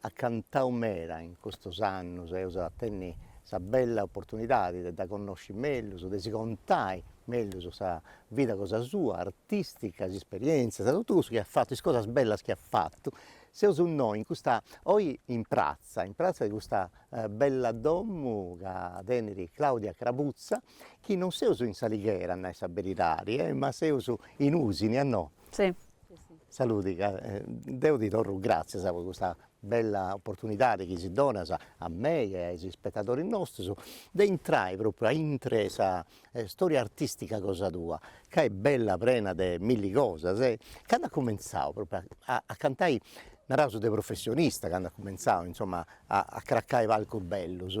at cantadu meda in custos annos e eus a tenni sa bella opportunidade de dda connosci mellus, de si contai mellus sa vida cosa sua, artistica, is isperientzias, totu cussu chi at fattu, is cosas bellas chi at fattu, seus innoi in custa, oi in pratza, in pratza 'e custa bella domo ca tenit Claudia Crabuzza, chi non seus in s'Alighera a nai sa beridadi e ma seus in Usini, no? Si Saludi deo ti torro grazzias pro custa bella opportunidade chi si donas a mei e a is ispettadoris nostros de intrai propriu a intre sa storia artistica cosa tua ca est bella prena de milli cosas e cand'as cominzadu propriu a a cantai naraus de professionista cand'as cominzadu insomma a a cracai palcos bellos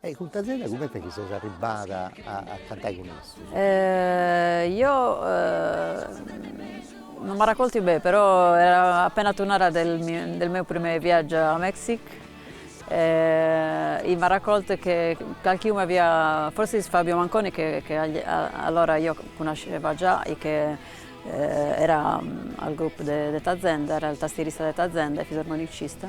E cun ta zena comente chi ses arribbada a cantai cun issos? eo non m'arraccortio bene però eo appena turnada del mio del meu prime viaggio a Mexic e m'arraccorto che calchiunu avia forsis Fabio Manconi che che allora io cunasceva già e che era al group de de Tazenda era il tastierista de Tazenda e fisarmonicista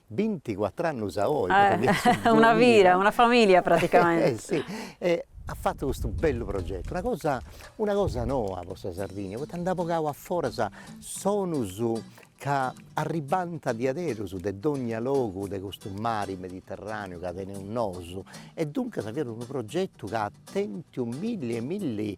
Binticuattr'annus a oi pro chi est duamila. Una vida, una familia praticamente. Eh si, e at fattu custu bellu progettu, una cosa una cosa noa pro sa Sardigna, poita nd'at bogau a foras sonus ca arribbant diaderus de dogna logu de custu mari mediterraneu ca teneus nosu, e duncas fiat unu progettu ca at tentiu milli e milli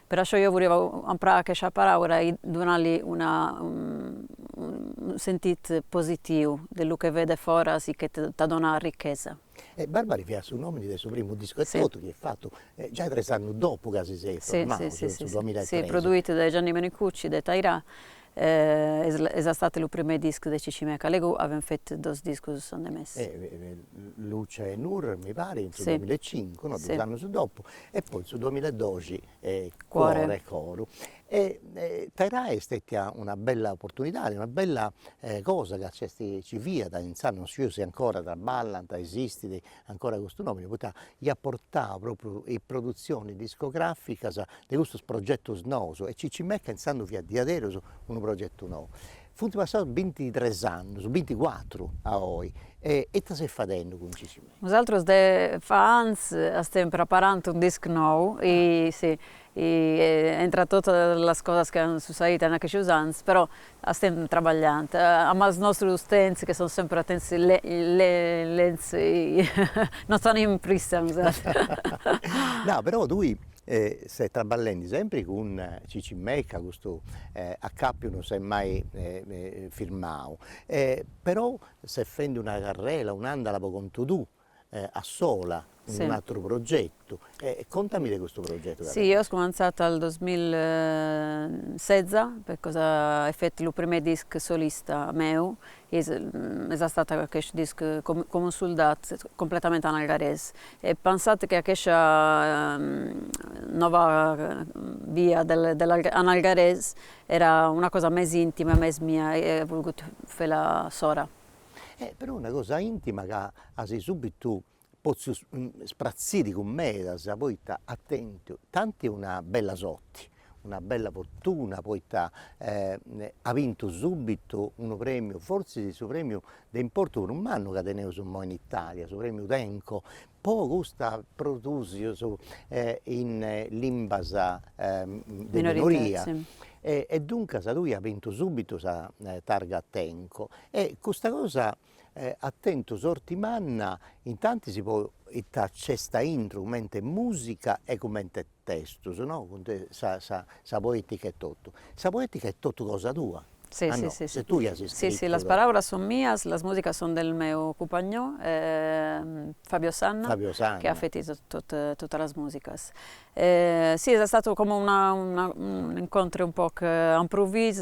Per això jo voliva emprar aqueixa paraula i donar-li una un sentit positiu de lo que ve de fores i que te dona riquesa. E Barbari fiat su nomini de su primu discu e totu chi est fatu giai tres annus dopu ca si seis formau, cioè in su duamilla e tres. Produït de Gianni Menicucci de Tajrà És estat lo primer disc de Chichimeca, alego havem fet dos discos en de més. Si, Luce e Nur mi paret in su duamilla e cincu no, duos annus dopo e poi in su duamilla e doxi Cuore coro e Tajrà est stetia una bella opportunidade una bella cosa ca nc'est ci fiat insaras non sciu si ancora traballant, esistit ancora custu nomene poita iat portadu propriu is produtzionis discograficas de custus progetus nous e Chichimeca intzandus fiat diaderus unu progetu nou. Funt passaus bintitres annus, binticuatru a oi e ita ses fadendi cun Chichimeca? Nosaltros de fa anys estem preparant un disc nou i entre totes les coses que han succeït en aqueixos anys però estem treballant amb los nostros temps que són sempre temps lents, no tenim pressa mi sa No però tui ses traballendi sempri cun Chichimeca custu acàpiu non s'est mai firmau però ses fendi una carrera un'andala po contu tuu a sola in un'atteru progettu e contami de custu progettu. Si io he cumanzat al duemilaseza per cosa he fet lu prime disc solista meu che es astat achest disc Com un soldat completament an algares he pensat che achescia nova via del algares era una cosa mes intima e mes mia e he vulgut fela sora. e però una cosa intima ca as subbitu potziu ispratziri cun medas poita at tentu tanti una bella sorti, una bella fortuna poita at bintu subbitu unu premiu fortzis su premiu de importu prus mannu ca teneus imoi in Italia, su premiu Tenco Po custa produsius in limbas de minoria e duncas tui as bintu subitu sa targa Tenco e custa cosa at tentu sorti manna intantis poita nc'est a intru cumente musica e cumente testus no cun de sa sa sa poetica est totu, sa poetica est totu cosa tua si si si ses tui chi as iscrittu si si las paraulas son mias las musicas son del meu cumpagnò Fabio Sanna Fabio Sanna che ha fet totas las musicas si es astat como una una un incontre un poc a impruvis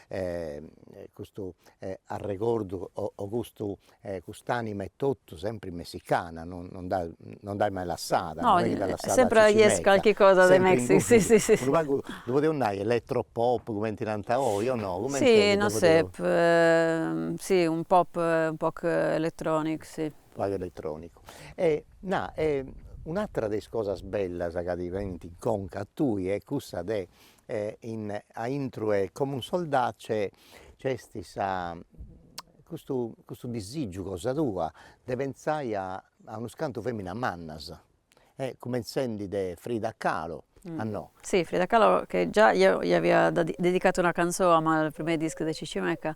custu arregordu o o custu cust'anima e totu sempre messicana no non dd'as non dd'as mai lassada no est chi dd'as lassada sempre hi es calchi cosa de Mexico si si si unu pagu ddu podiaus nai electro pop cumenti nant oi o no si no sé si unu pop unu pop electronic si unu pagu electronicu e na e un'atera de is cosas bellas ca ti benint in conca a tui est cussa de e aintru 'e Com un soldat c'è c'est sa custu custu disigiu cosa tua de pensai a a unos cantu feminas mannas e cumentzendi de Frida Kahlo a no. Si Frida Kahlo che già io li avia dedicat una canzò a ma al prime disc de Chichimeca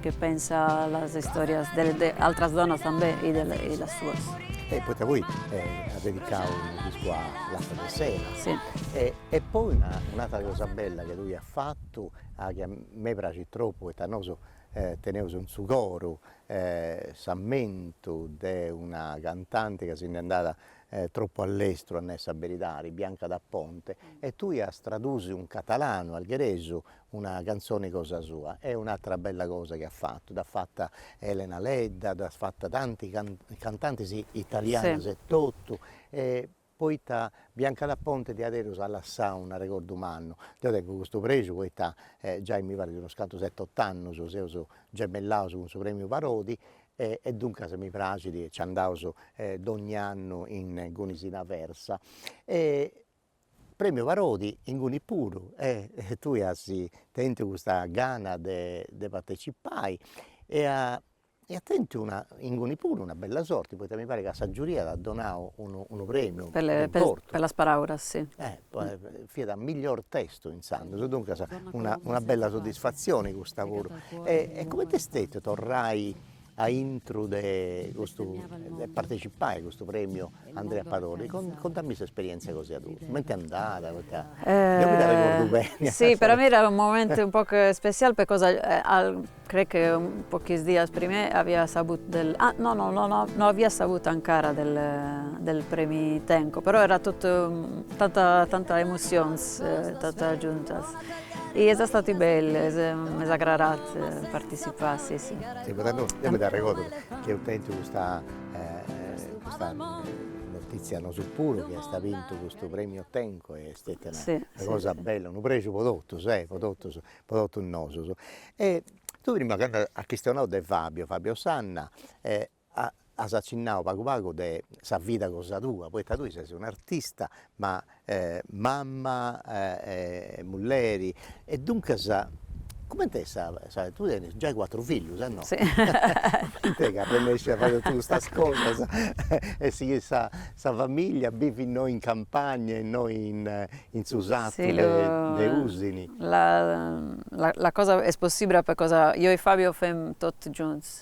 Che pensa a las istorias de de altras donas tambe i de i las suas. E poita poi as dedicau unu discu a Lhasa de Sela. Si. E e poi una un'atra cosa bella chi tui as fatu chi a me praxit tropu poita nosu teneus in su coru s'ammentu de una cantanti ca si nd'est andada tropu a lestru a nai sa beridadi, Bianca d'Aponte, e tui as tradusiu in catalanu, algheresu una canzone cosa sua e un'atra bella cosa chi at fattu, dd'at fatta Elena Ledda, dd'at fatta tanti cantantes italianos e totu e poita Bianca d'Aponte diaderus at lassau un'arregordu mannu, deo tengu custu prexu poita e giai mi parit unos cantu sette ott'annus seus gemellaus cun su Premiu Parodi e e duncas mi praxit e nci andaus e dogni annu ingunis in Aversa e Premiu Parodi ingunis puru e e tue as tentu custa gana de de partecipai e a e as tentu una ingunis puru una bella sorti, poita mi parit ca sa giuria t'at donau unu unu premiu importu. Per las paraulas si. E fiat miglior testo intzandus, duncas una una bella soddisfatzioni custa puru e e coment'est stetiu torrai A intro de custu de partecipai a custu premiu Andrea Parodi, contamì s'esperientzia cosa tua, coment'est andada, poita deu mi dd'arregordu beni. Si per a mi era un moment un poc especial pecosa crec que pocs dias prima avia sabut de, no no no no no avia sabut ancara de del premi Tenco, però era tot tanta tanta emocions totas juntas I és estat bell m'és agradat participar si si. Eo mi dda arregordo chi eus tentu custa custa notizia nosu puru chi eis bintu custu premiu Tenco e est stetia una cosa bella, unu prexu po totus e po totus po totus nosus e tui prima cando as chistionadu de Fabio, Fabio Sanna e as accinnadu pagu pagu de sa vida cosa tua, poita tue ses un'artista, ma mamma e mulleri e duncas comente est sa sa, tue tenes giai cuatru fillus e no, comente ch'arrennescis a fai totu custas cosas e sighire sa sa familia a bivi innoi in campagna e innoi in su sartu de Usini. La la cosa és possible pecosa jo i Fabio fem tot junts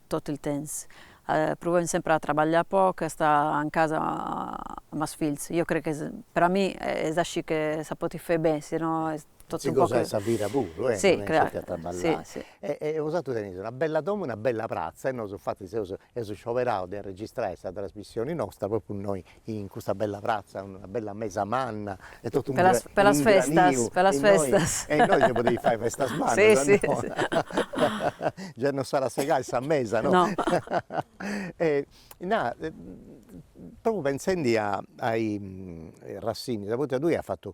tot el temps provem sempre a treballar poc i a estar en casa amb els fills jo crec que per a mi és així que se pot fer bé si no és tot si gosai sa vida puru e si a trabagliai si e e osatrus teneis una bella domo e una bella pratza e nosu infati seus eus scioberaus de registrai sa trasmissioni nosta propriu innoi in custa bella pratza, una bella mesa manna e totu unu granitu, pro sas festas, pro sas festas, e innoi si podeis fai festas mannas, già non s'at a segai sa mesa, no, e na propriu pentzendi a is arrexinis, poita tui as fatu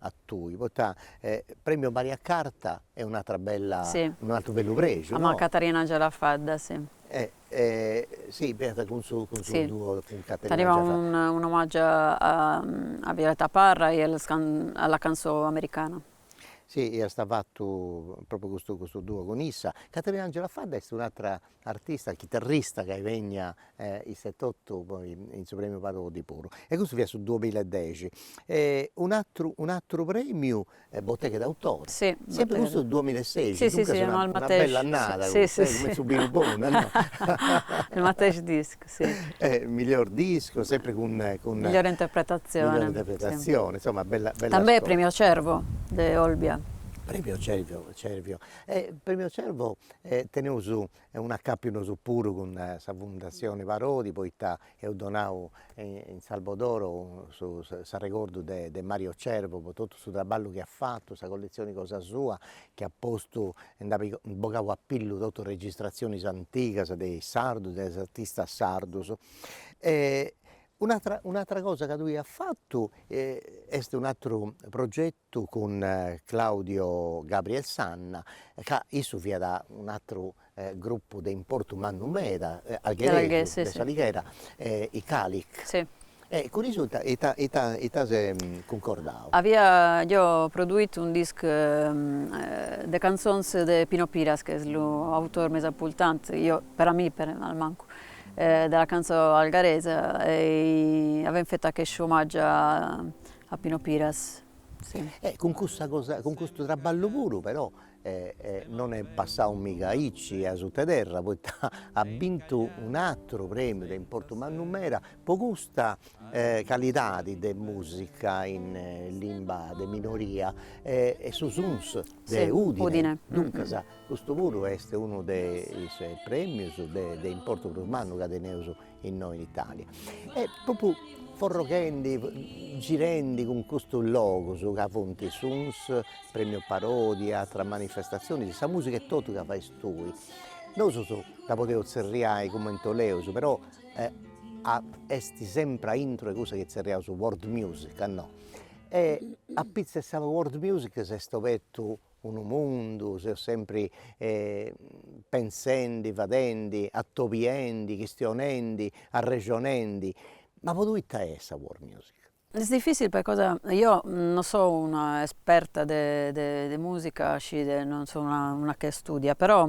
a tui, poita premio Maria Carta est un'atra bella unu atru bellu prexu no. Amb Caterinangela Fadda si. si fiat cun su cun su duo cun Caterinangela Fadda. Teniat unu omagiu a Violeta Parra e a la cançó americana. Si iast fatu propriu custu duo cun issa, Caterinangela Fadda est un'atra artista, chitarrista chi est bènnia issa etotu poi in su premiu Parodi puru e custu fiat su duamilla e dexi e un'atteru un'atteru premiu e Botteghe d'autore sempre custu duamilla e seixi duncas una bella annada custa e cumenti su binu bonu e miglior disco sempre cun cun migliore interpretazione insomma bella bella també premio Cervo de Olbia premio Cervio Cervio e premio Cervo E teneus un'acapiu nosu puru cun sa fundassioni Parodi poita eus donau in Salvadoro s'arregordu de de Mario Cervo po totu su traballu chi at fatu, sa colletzioni cosa sua chi at postu e nd'at bogau a pillu totu is registratzionis antigas de is sardus de is artistas sardus e un'atera un'atera cosa ca tui as fatu est un'ateru proge Su cun Claudio Gabriel Sanna ca issu fiat un'atteru gruppu de importu mannu meda de s'Alighera i Calic e cun issu ita ita as cuncordau? Havia produït un disc de cançons de Pino Piras que és lo autor més important per a mi almanco de la cançó algueresa i havem fet aqueix homatge A Pino Piras, si. E cun custa cosa cun custu traballu puru però non est passadu miga aici a sutta 'e terra poita at bintu un'atteru premiu de importu mannu meda pro custa calidade de musica in limba de minoria e est su Suns de Udine, duncas custu puru est unu de is premios de importu prus mannu chi teneus innoe in Italia e propriu forroghendi girendi cun custos logos ca funt Suns, premio Parodi, atteras manifestaziones, sa musica e totu ca fais tui, nosu dda podeus tzerriai cumenti 'oleus però est sempre a intro 'e cussa chi tzerriaus world music no, e apitzus 'e sa world music s'est obertu unu mundu, seus sempre pensendi, fadendi, atobiendi, chistionendi, arrexonendi, ma po tui ita est sa world music? És difícil percosa io no só una esperta de de musica, cioè no só una una que estudia però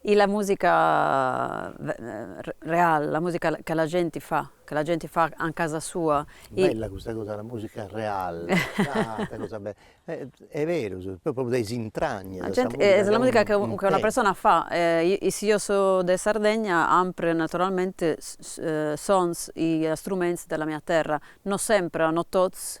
E la musica real, la musica che la gent fa, che la gent fa en casa sua. Bella custa cosa, la musica real, ita cosa bella, est berus, propriu dae is intragnas de sa musica. Es la musica che una persona fa, i si io so de Sardegna ampre naturalmente sons i struments de la mia terra, no sempre, no tots,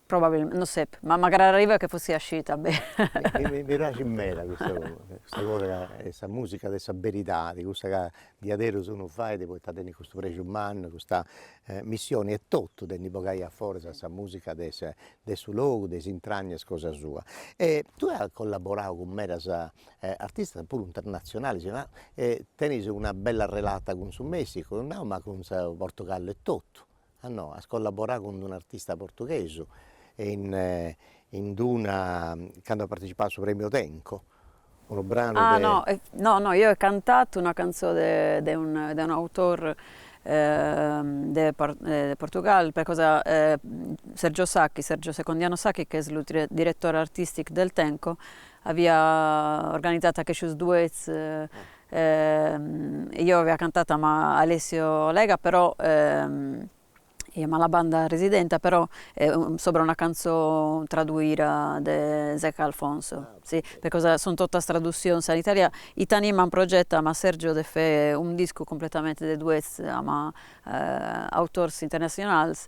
Probabilmente, no sé, ma magari arriva che fossi eixida bé. Mi praxit meda custa custa cosa ca est sa musica de sa beridadi, cussa ca diaderus unu fait poita tenit custu prexu mannu, custa missioni etotu de ndi bogai aforas sa musica de sa de su logu, de is intragnas cosa sua. E tui as collaborau cun medas artistas puru internazionalis, ma tenis una bella relata cun su Messicu, no, ma cun su Portogallo etotu Ah no, as collaboradu cun d'unu artista portughesu e in in d'una, cando at partecipadu a su premiu Tenco, unu branu de Ah no no no, io he cantat una canzó de de un de un autor de de Portugal, per cosa Sergio Sacchi, Sergio Secondiano Sacchi che es lu diretor artistic del Tenco, avia organizat aqueixos duets I io avia cantat amb Alessio Lega però i amb la banda resident però sobra una canzó traduida de Zeca Alfonso sì pecosa son totas traduzions en italià i tenim en projecte amb Sergio de fe un disc completamente de duets amb autors internazionals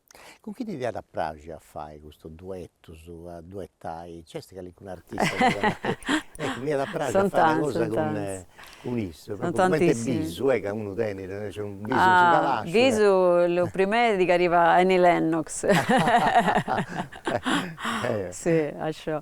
Cun chi ti diat a praxi a fai custus duettus, a duettai, nc'est calincunu artista ecco m'iat a praxi a fai una cosa cun cun issu, propriu comenti bisu ca unu tenit naraus unu bisu in su calasciu bisu lu primer digueriva Annie Lennox sì això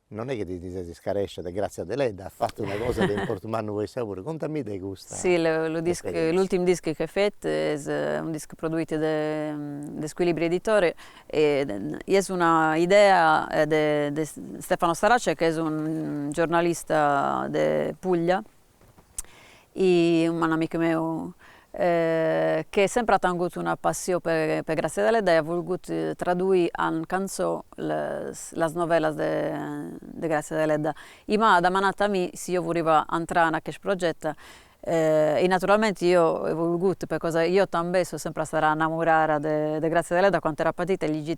Non est chi ti ti ses iscarescia de Grazia Deledda, as fatu una cosa de importu mannu po issa puru, contamì de custa Si, lu disc, esperienzia. l'ultim disc che he fet es un disc produit de de Squilibri Editore i es una idea de de Stefano Starace che es un giornalista de Puglia e un gran amic meu che sempre ha tengut una passió per Grazia Deledda i ha volgut traduí en canzó las novellas de Grazia Deledda i m'ha demanat a mi si io voliva entrà en aquest progetto i naturalmente io he volgut pecosa io també so sempre estada enamorada de Grazia Deledda quant era petita e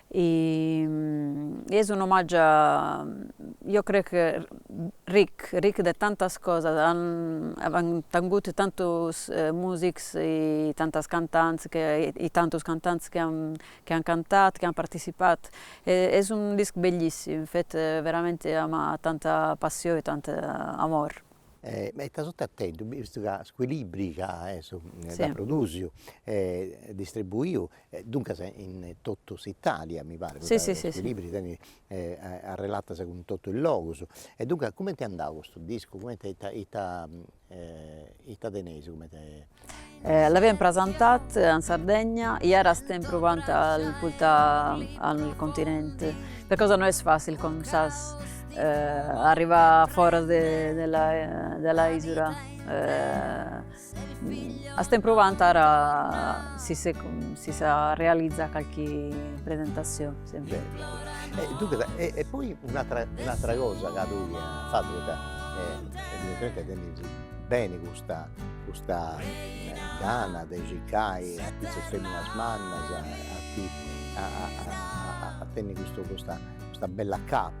E es un omaggio io crec che ricch ricch de tantas cosas avem tangut tantos musics e tantas cantants che e tantos cantants che an che an cantat che an participat e es un disc bellissim fet veramente ama tanta passione e tant amor. E ita sorti at tentu, vistu ca Squilibri ca est su dd'at produsiu e distribuiu E duncas in totu s'Italia mi paret, poita Squilibri tenit arrelatas cun totu is logus, e duncas cumenti est andadu custu discu, cumenti ita ita ita teneis cumenti L'avem prasantat in Sardegna, i ara astem pruvant a pultà al continente, percosa no es facil com sas arrivà a fora de de la isura Astem pruvant ara si si sa realiza calchi presentació sempre. E duncas e e poi un'atra un'atra cosa ca tui as fatu poita evidentemente tenis beni custa custa gana de circai artistas feminas mannas a a a a tenni custu custa custa bella capa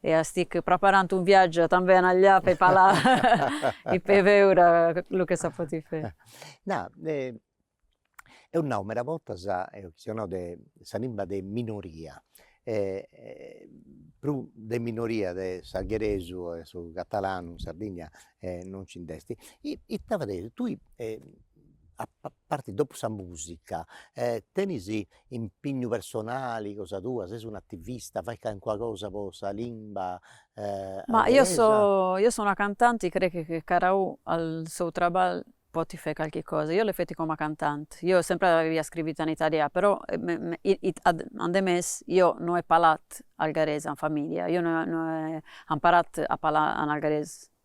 E astic praparant un viaggiu també anallà pe palà i pe veura lu che sa pot fé. Na eo nau meda bortas eo chi so nau de sa limba de minoria prus de minoria de s'algheresu e su catalanu in Sardigna non nci nd'est ita fadeis tui a parte dopo sa musica tenis impignu personali cosa tua, ses un'attivista, fai calincuna cosa po sa limba Ma io so io so una cantant i crech che caraù al sou traball pot fé calchi cosa, io l'he fet coma cantant, io sempre avia scrivit in italià però ademés io no he palat algarés in familia, io no he no he amparat a palà an algarés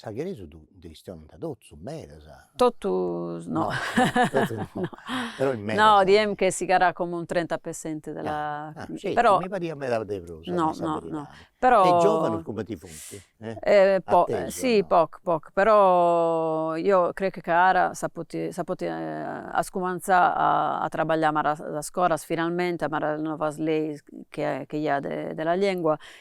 S'algheresu ddu chistionant totu medas. Totus no no diem che sigarà com un trenta per cento de la però mi pariat meda de prus no no no però e giovanus cumenti funt e po si po po però io crec che ara sa pot sa pot ascumanzà a a trabaglià ama las ascoras finalmente ama las novas leis che che hi ha de de la llengua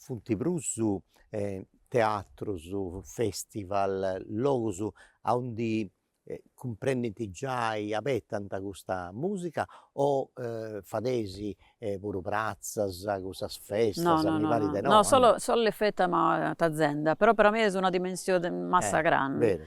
Funt prus teatrus, festival, logus aundi cumprendint giai, abetant custa musica o fadeis puru pratzas, custas festas, no no mi parit de no, no no solu l'he fet ama Tazenda, però per a mi es una dimensió massa grande,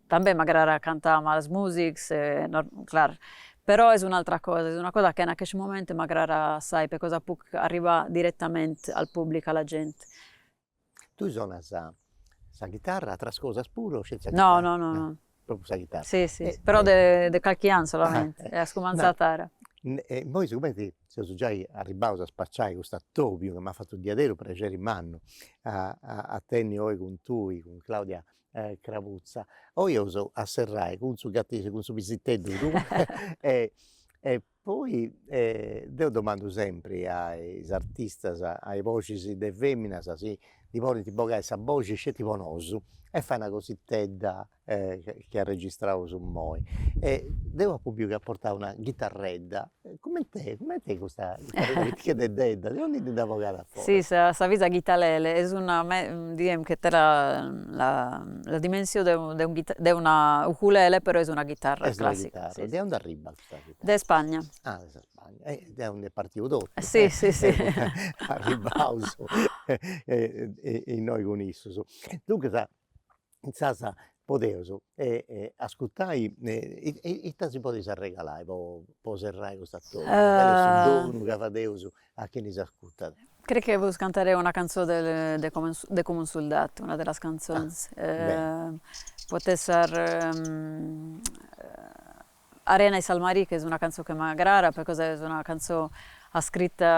També m'agrada cantar amb los músics, és clar, però és un'altra cosa, és una cosa que en aquest momento m'agrada assai per cosa puc arribar direttamente al públic, a la gent. Tui sonas sa chitarra, atras cosas puru o sceti sa chitarra? No no no. Propriu sa chitarra. Si si però de de calqui any solament, he escomençat tard. E immoi sigumenti seus giai arribbaus a spaciai custu atobiu chi m'at fatu u' diaderu prexeri mannu a a tenni oi cun tui cun Claudia e Crabuzza, oi eus a serrai cun su gatu cun su pisiteddu tui e e poi e deo domandu sempre a is artistas, a is boxis de feminas si ndi podint bogai sa boxi sceti po nosu e fai una cositedda e chi arregistraus immoi e deu apu biu chi at portau una ghitarredda E comente comente custa cheddeddedda, de aundi ndi dd'as bogada fora? Si se s'avisa guitalele, és una, diem que té la la dimensió de u de un de una ukulele però és una guitarra clàssica. Est una chitarra, de aundi arribbat custa chitarra? De Spagna. Ah de sa Spagna, e de aundi est partiu totu si si si arribbaus innoi cun issus, duncas intzaras podeus ascurtai ita si podit arregalai po po serrai custa torra, mancai est unu donu chi fadeus a chini s'ascurtat. Crec que puc cantar una cançó de de Com de Com un soldat, una de les cançons, pot ésser Arena i sal marí, que és una cançó que m'agrada per cosa és una cançó escrita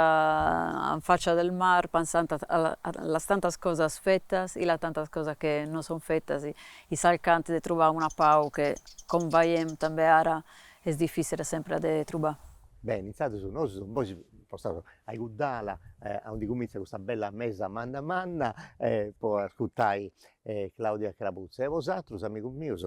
en faccia del mar pensant a a les tantes coses fetes i les tantes coses que no són fetes i cercant de trobar una pau que com veiem també ara és difícil sempre de trobar. Bene, intzandus nosu seus imoi spostaus a igudd'ala aundi cumintzat custa bella mesa manna manna po ascurtai e Claudia Crabuzza, e bosatrus amigus mius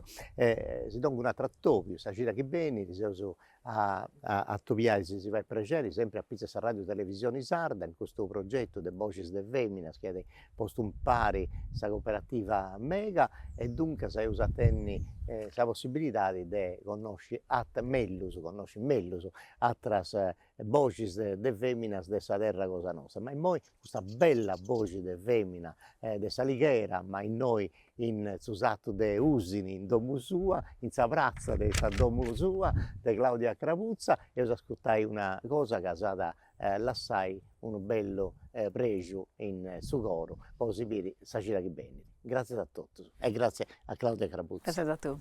si dongu un'atru atobiu, sa cida chi benit s'eus a atobiai si si fait prexeri sempri apitzus 'e sa Radiu Televisioni Sarda in custu progetu de boxis de feminas chi at postu impari sa cooperativa mega e duncas eus a tenni sa possibilidadi de connosci mellus, connosci mellus atras e boxis de de feminas de sa terra cosa nosta, ma immoi custa bella boxi de femina de s'Alighera, ma innoi in su sartu de Usini in domu sua, in sa pratza de sa domu sua de Claudia Crabuzza, eus ascurtai una cosa ca s'at a lassai unu bellu prexu in su coro po si biri sa cida chi benit. Gratzias a totus e gratzias a Claudia Crabuzza. Gratzias a tui.